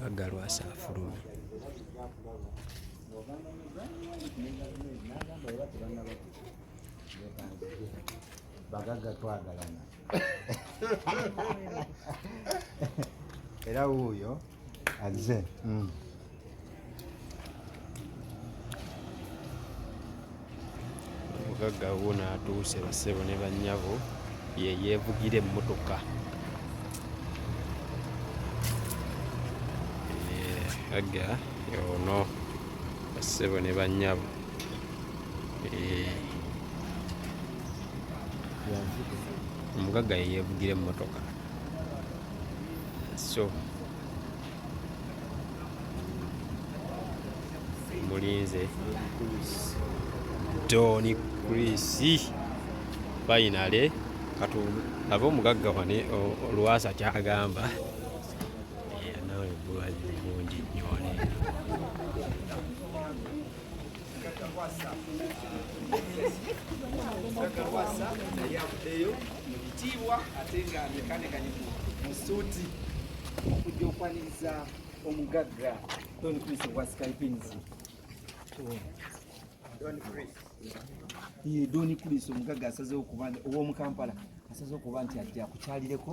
bagalwasa afuluma bagaga twagalana era wuuyo azze mm. omugagga wuuno atuuse bassebo ne bannyabo ye yeevugira emmotoka aga yono bassebo ne bannyabo omugagga yeyevugira emmotoka so mulinze doni krisi fainale katu aba omugagga wane olwasa kyagamba nawe bulwazi bungi nyo kakawasa naye avuddeyo mu bitiibwa ate nga yekanekanye mu suuti okujja okwaniriza omugagga don chris wa skypins don chris omugagga asazewo kuba ow'omu kampala asazewo kuba nti ajja kukyalireko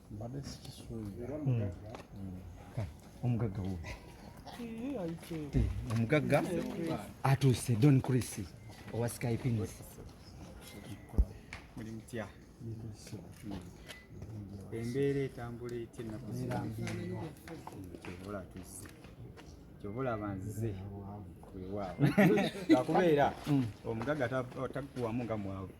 mbadde sikisuubira omugagga wo omugagga atuuse don chris owa skypins muli mutya embeera etambula etya ennaku kyobola atuuse kyobola banzize wewaabo akubeera omugagga takuwamu nga mwavu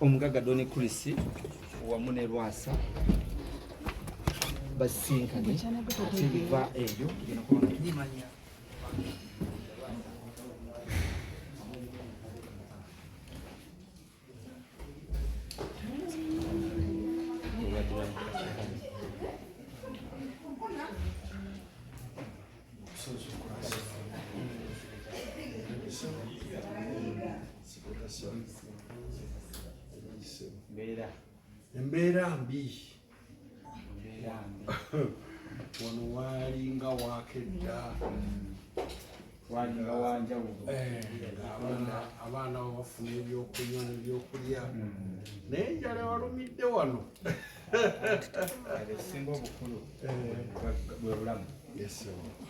Omugagga Don Chris wamu ne Lwasa basisinkanye ate biva ebyo embeera mbi wano walinga wakedda walinga wanjawulo eh, abaana babafuna ebyokunywa nebyokulya hmm. naye enjala walumidde wano esinga obukulu eh. bwe bulamu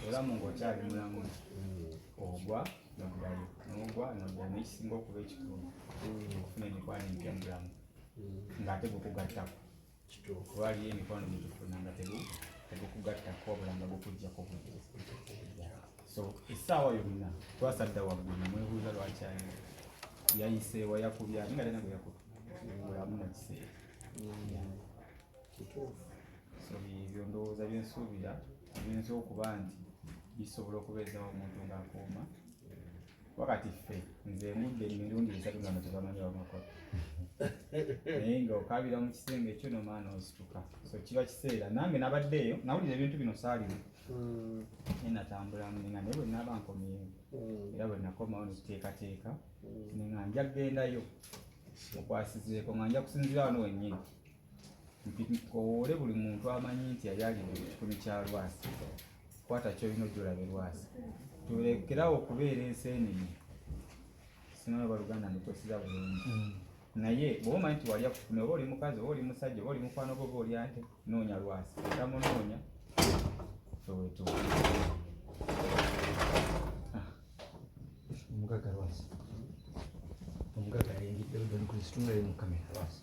obulamu ng'okyali mulamu hmm. ogwa noddayo nogwa noddayo naye kisinga okuba ekitundu mm. okufuna emikwano empya mu bulamu mm. ng'ate gukugattako kuba aliyo emikwano gyetufuna nga tegukugattako obulanga gukujjako obujja so essaawa yonna twasadda waggulu namwebuuza lwaki ayo yayiseewa yakubya ninga tena gwe yakuba mulamu mu kiseera mm. ebyo ndowooza byensuubira biyinza okuba nti bisobola okubeezawo omuntu ng'akuuma wakati ffe nze ngudde emirundi esatu nga mutebamanyi wamakolo naye nga okabira mu kisenge ekyo nomaana osituka so kiba kiseera nange nabaddeeyo nawulira ebintu bino saalimu mm. naye natambula nga naye bwenaba nkomyeyo mm. era bwenakomawo nekiteekateeka mm. nga nja kugendayo mukwasizeeko nga nja kusinzira wano wennyini nkowoole buli muntu amanyi nti yali alidde ku kikumi kya lwasi kwata kyolina ojjolabe lwasi tulekerawo okubeera enseenene simanyi oba luganda ndikwesiza bulungi mm. naye bwoba omanyi nti walya kufuna oba oli mukazi oba oli musajja oba oli mukwano gwoba olya nte noonya lwasi tamunoonya ewetuuka ah. omugaga lwasi omugaga yengidde odanikuli situnulayo mu kamera lwasi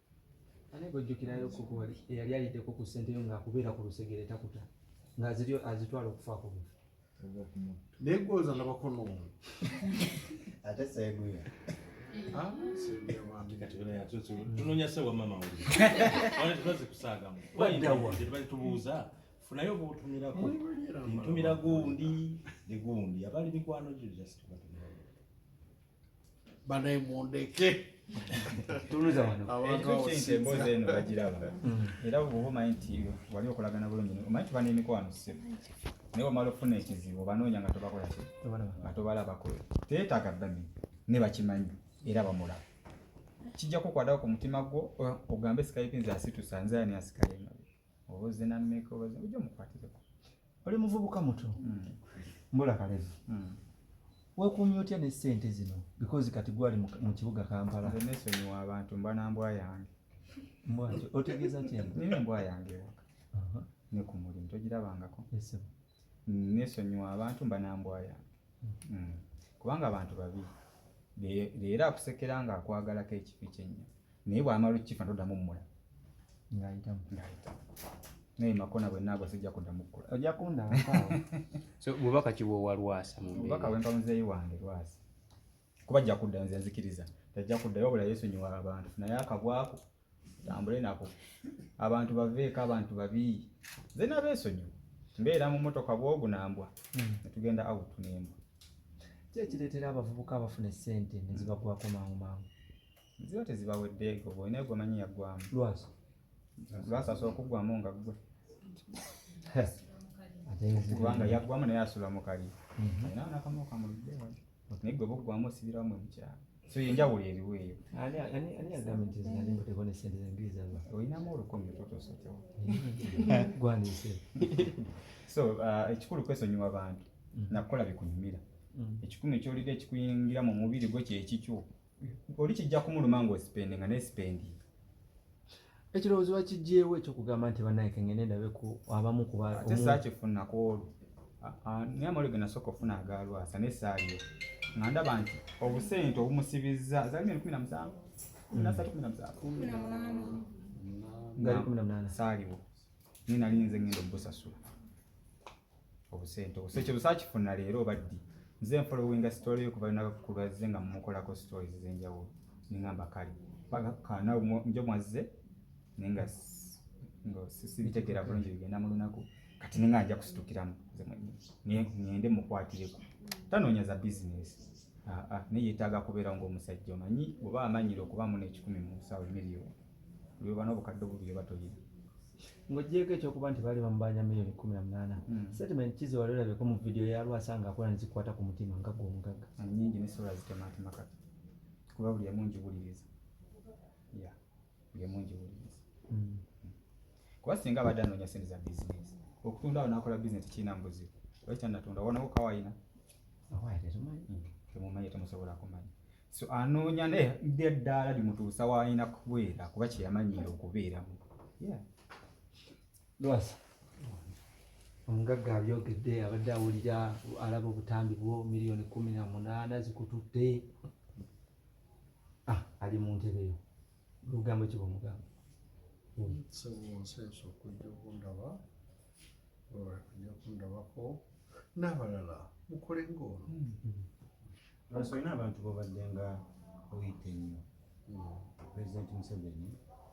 Ani gwojjukirayo koko wali eyali ayiteko ku ssente yo ng'akubeera ku lusegere takuta ng'aziryo azitwala okufa ku bufu naye gwoza nabakono ate seguya ah, tunonya sewa mama wetubazze kusaagamu tetubali tubuuza funayo bwotumirako ntumira gundi ne gundi abaali mikwano gyo just banaye mundeke emboozi eno bagiraba mm. era bwoba omanyi nti wali okolagana bulungi omanyi tuba n'emikwano ssebo naye wamala okufuna ekizibu obanoonya nga tobakola ki nga tobalabako teetaaga bamenya ne bakimanyi era bamulaba kijja kukwadako ku mutima gwo ogambe sikaipinzi asitusa nze ani asikaye oboze na meka oboze ujja mukwatireko oli muvubuka muto mm. mbula kalezi mm. wekumye otya ne sente zino because kati gwali mu kibuga kampala nesonyiwa abantu mba na mbwa yange mbwa otegeeza kyembwa yange waka uh-huh. ne ku mulimu togirabangako nesonyiwa abantu mba nambwa yange mm. kubanga abantu babi leero akusekera nga akwagalako ekifi kyenya naye bwamala okifa ntodamu mmula ngayitamu naye makona bwenagwa sijja kudamu kkola ojja kundabakaawo so bubaka kiwowa lwasa mubaka wempa muzeeyi wange lwasa kuba ajja kuddayo nze nzikiriza tajja kuddayo wabula yesonyiwa abantu naye akabwako tambule nako abantu baveeko abantu babi nze nabeesonyiwa mbeera mu motoka bwogu nambwa hmm. netugenda out nembwa kyekireetera abavubuka abafuna esente nezibagwako mangu mangu ziba tezibaweddeeko bwolina gwe manyi yaggwamu lwasa lwasa asobola okuggwamu nga ggwe kubanga yaggwamu naye asula mukali mhm. alina nakamu kamuludde naye gwe bokugwamu osibirawo mwe mukyalo so yenjawulo eriwo eyo olinamu olukumi totosotewo so uh, ekikulu kwesonyiwa bantu mm. nakukola bikunyumira mm. ekikumi kyolidde ekikuyingira mu mubiri gwo kyekikyo oli kijja kumuluma ng'osipendi nga nesipendi ekirowoozo bakijjeewo ekyokugamba nti banaye kengende ndabe ku abamu kuba ate saakifuna ku olwo naye amawuli ge nasooka okufuna agaalwasa naye saaliyo nga ndaba nti obusente obumusibizza zali miri kumi na musanvu kumi nasatu kumi na musanvu ngali kumi na munaana saaliwo naye nali nze ngenda obusasula obusente obuse kye busakifuna leero baddi nze nfolowinga story yo kuba naka kubaze nga mukolako stories zenjawo ningamba kali paka kana njo mwazze ninga ngo sisi bitegera bulungi bigenda mu lunaku kati ninga nja kusitukiramu nze mwenye niende mukwatireko tanoonya za business ah, ah, naye yetaaga kubeera ngaomusajja omanyi oba amanyire okuba mu nekikumi mu nsawo emiriyo lwebana obukadde obubiri oba toyina ng'oggyeeko ekyokuba nti baali bamubanja miliyoni kumi na munaana hmm. statement kizi wali olabeko mu vidiyo ya lwasa nga akola nezikwata ku mutima nga gwe omugagga ah, nyingi ne sula zitemaatema kati kuba buli emu ngiwuliriza ya buli emu ngiwuliriza hmm. kuba singa abadde anoonya sente za bizinesi okutunda awo nakola bizinesi kirina mubuzibu lwaki tanatunda wonawo kawayina awaye tetumanyi hmm. temumanyi temusobola kumanya so anoonya naye byeddaala limutuusa waalina kubeera kuba kyeyamanyiira okubeeramu lwasa omugagga abyogedde abadde awulira alaba obutambi bwo miliyoni kumi na munaana zikututte ah, ali mu ntebeyo lugambo kiba omugamba sebunseesa okujja okundaba oja kundabako n'abalala mukole ng'ono hmm. Lwasa olina abantu bobadde nga oyita ennyo pulezidenti Museveni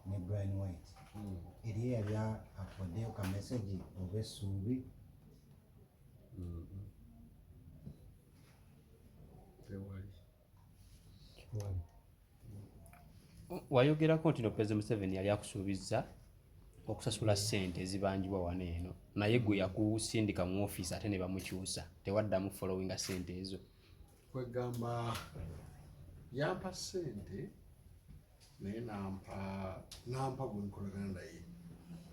ne Brian White hmm. eriyo yali akodeyo ka mesegi oba essuubi hmm. wayogerako nti no president museveni yali akusuubizza okusasula ssente ezibanjibwa wano eno naye gwe yakusindika mu ofiisi ate ne bamukyusa tewaddamu followinga ssente ezo kwegamba yampa ssente naye nampa nampa gwenkolagana naye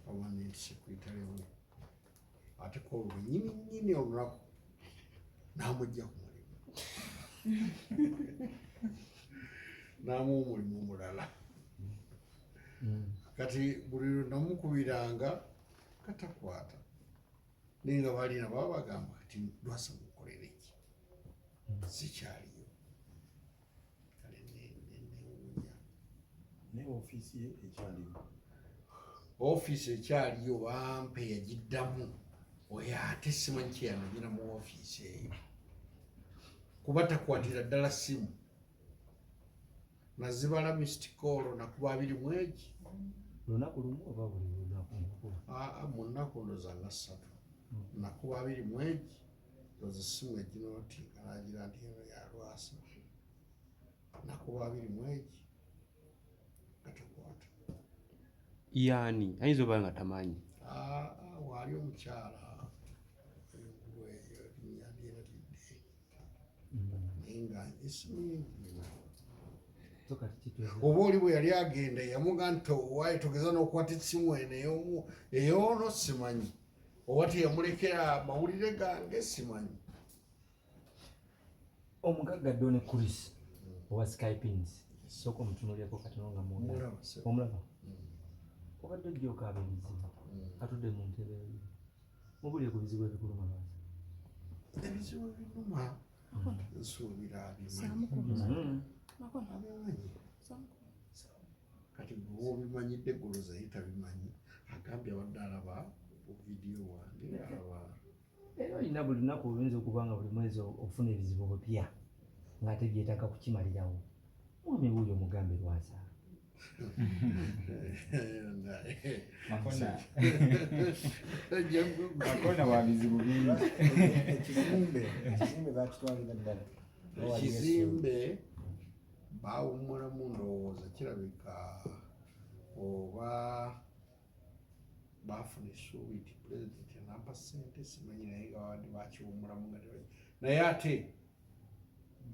awanentisekuitalemu ate ku olwo nyini nyini olunaku n'amujja ku mulimu n'amu omulimu omulala hmm. kati buli namukubiranga katakwata naye nga balina baba bagamba kati lwasa mukolere ki hmm. sikyaliyo kale newuunya naye ofiisi ye ekyaliwo ofiisi ekyaliyo bampe yagiddamu oyo ate simanyi kyeyanagina mu ofiisi eyo kuba takwatira ddala simu nazibala mistikolo nakuba abiri mwegi lunaku lumu oba buli lunaku munaku ndoza nga ssatu nakuba abiri mwegi ndoza essimu egino nti alangira nti eno ya lwasa nakuba abiri mwegi gatakwata yani ayinza oba nga tamanyi ah, ah, waali omukyala oba oli bwe yali agenda yamuga nti owaye togeza nokwata esimu eno eyomu eyono simanyi oba teyamulekera mawulire gange simanyi omugagga done chris owa skypins sooka omutunulyeko katono nga omulaba obadde ojjokaaba ebizibu atudde mu ntebe mubulire ku bizibu ebikuluma lwazi ebizibu ebinuma nsuubira abimanyi kati gwe obimanyidde goloza ye tabimanyi agambye abadde alaba vidiyo wange alaba era olina buli lunaku oluyinza okuba nga buli mwezi ofuna ebizibu bupya ng'ate byetaaga kukimalirawo mwami wuuyo mugambe lwasa makona wa bizibu bingi ekizimbe ekizimbe bakitwalira ddala ekizimbe baawummulamu ndowooza kirabika oba baafuna essuubi nti pulezidenti anampa ssente simanyi naye nga babadde bakiwummulamu nga tebayi naye ate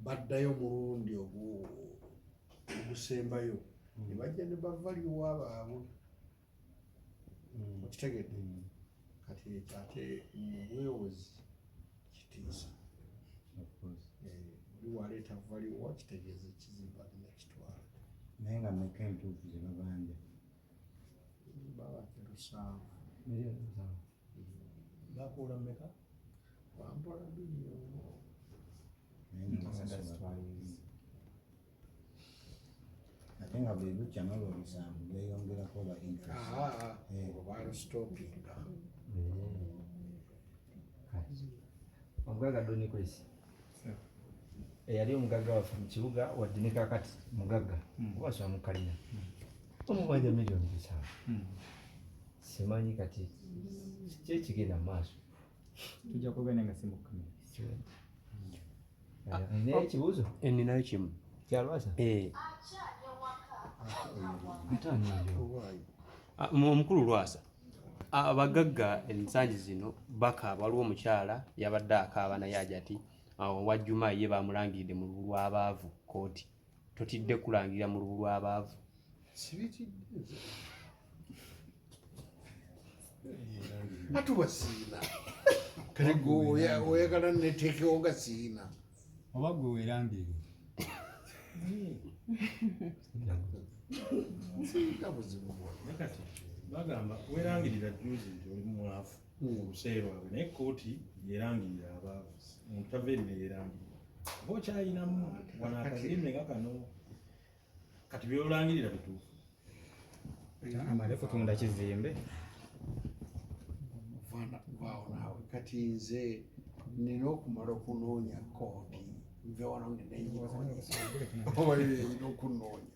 baddayo omulundi ogusembayo ne bajja ne bavaliwa baabwe mm, okitegedde mm. kati ekyo ate mubwewozi kitiisa oli eh, waleeta valiwo kitegeeza ekizimba alina kitwala naye nga meka entuufu ze babanja babakerusanvu bakuula meka wampola biliyono ate nga bwe bukya nolwo omusanvu gweyongerako oba interestobaalustopinga omugaga donikwesi eyali omugagga waffe mu kibuga wadde ne kakati mugagga hmm. oba asoma mu kalina hmm. omubanja miliyoni musanvu hmm. simanyi kati kyekigenda mu maaso tujja kwogana nga si mukamera ah, ninayo ekibuuzo oh, eh, ninayo kimu kyalwasa eh. ah, omukulu lwasa abagagga ah, ensangi zino bakaaba waliwo omukyala yabadde akaaba naye ajati wajjuma ye bamulangiridde mu lwabaavu kooti totidde kulangirira mu lubu lw'abaavu ati wasiina kale oyagala neteekewo nga siina oba gwe werambire bagamba werangirira juzi nti oli mwavu obuseera bwabwe naye kkooti yerangirira abaavu omuntu tava eri neyerangirira oba okyalinamu wano akazimbe nga kano kati byolangirira bituufu amale kutunda kizimbe vaawo naawe kati nze nina okumala okunoonya kkooti nve wano nenenyi oba yoyeyina okunoonya